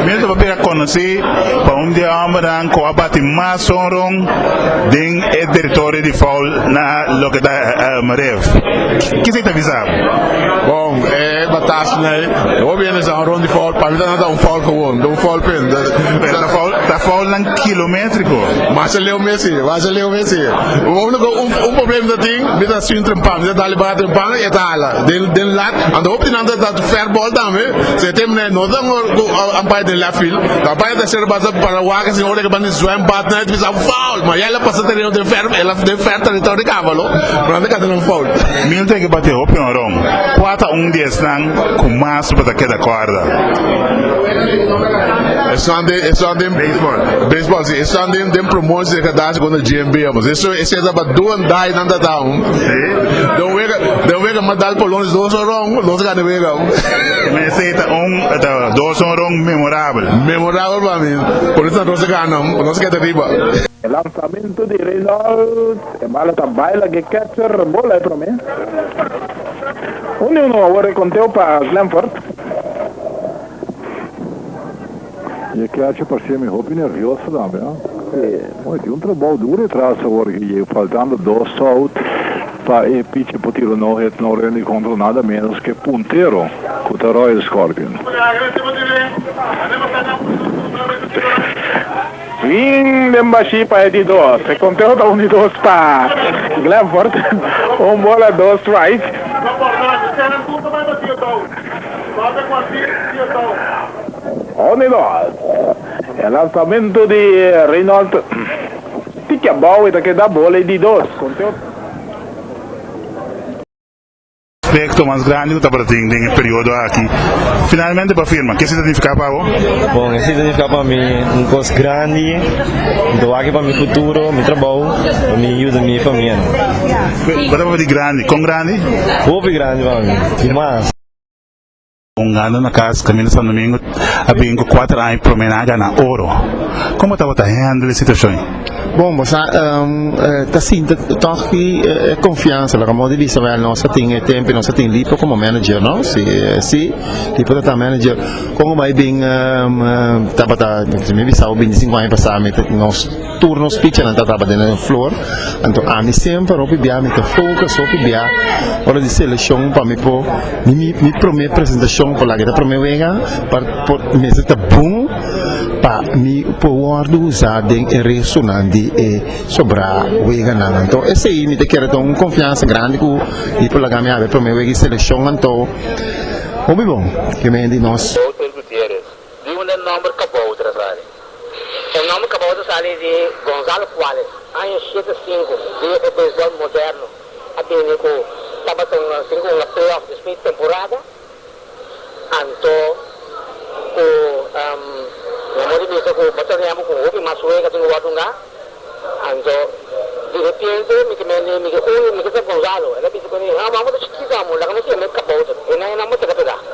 Mester papia a conoci pa un di e hombernan cu a bati mas sonron den e territorio di foul na loke ta Marev. Kisa i ta bisa abo? Bon, e batas na e hobennan sa un rondi foul. Pa mi ta nada un foul gewoon, ta un foul pen. Ta foulnan kilometrico. Mas e leu mes si, mas e leu mes si. Unico un problem ta tin, mi ta sintra un pan, mi ta da libati un pan, e ta hala den lat. Anto hopi di nan ta. Fair ball tambe, so e tem ne no tan umpire den left field, ta umpire ta ser basa para wak sin ora ke ban di zwembad na e ta bisa foul, ma ya el a pasa tereno den fair el a den fair territorio di Kavalo pero nan ta kanta nan foul. Milton ke bati hopi honron, kua ta un di esnan ku mas bo ta keda kòrda? Esnan den esnan den beisbòl si esnan den den promotie den kadasha kontra GMB amo si eso esei ta ba do and die nan ta ta un den wega den wega mas dal por lo menos dos honron. Los gana wega. Mester ta un ta dos un rond memorabel. Memorabel pa mi. Por eso nos gana. Nos keda riba. E lansamento di Reynolds. E bala ta bai la ke catcher bola e prome. Uno uno awor e conteo pa Glenfort. Mi a kiachi parcemi hopi nervioso tambe, ha? Sí. Bo a di un trabao duro e tras awor ki ye faltando dos sout pa e pichi por tiro no hit no run di contra nada menos ke puntero cu ta Royal Scorpion. Fin den bashí pa e di dos. E konteo ta uno i dos pa Glenfort, un bola dos strike. Uno i dos. E lansamentu di Reynold tiki abou e ta keda bola i di dos. Proyecto mas grandi cu tabata tin den e periodo aki finalmente por firma. Kies ta significa pa bo? Bon, esey ta significa pa mi un cos grandi. Mi ta wak pa mi futuro, mi trabou, pa mi yuda mi famianan. Cu ta pabia di grandi? Con grandi? Hopi grandi pa mi, y mas. Un gana na cas Camino San Domingo a bin cu cuater aña prome na gana oro. Como ta bo ta handle e situacion y? Bon, bo sa, um, uh, ta sinta toch ki uh, eh, confianza, la como de vista wel nos a tin e tempo, nos a tin lipo como manager, no? Si, uh, si, lipo ta ta manager, como mai bin, um, uh, tabata, mi bisa, bin 5 años pasado, nos Tur nos pichanan ta tabata den e flor, anto ami semper hopi bia mi ta focus hopi bia ora di seleccion pa mi por mi mi prome presentacion por laga e ta prome wega pa por mester ta bon pa mi por wordo usa den e restonan di e sobra weganan anto esey mi ta kere ta un confiansa grandi cu mi por laga mi haber prome wega di seleccion anto hopi bon keme di nos. Doutor Gutierrez, Di unda e nòmber Kabouter a sali? E nòmber Kabouter a sali di Gonzalo Cuales, aña shete sinku, dia ku beisbòl moderno a bini ku tabatonnan sin unda playoff despues di temporada. Anto ku nan por di bisa ku bo ta remba ku un hopi mas wega tin ku wòrdu unda. Anto di repiente mi ke mende mi ke uni mi ke sa Gonzalo. El a bisa ku mi, Amo, amo ta chikito amo, laga nos siga mei Kabouter. E nan e nòmber teka pegá.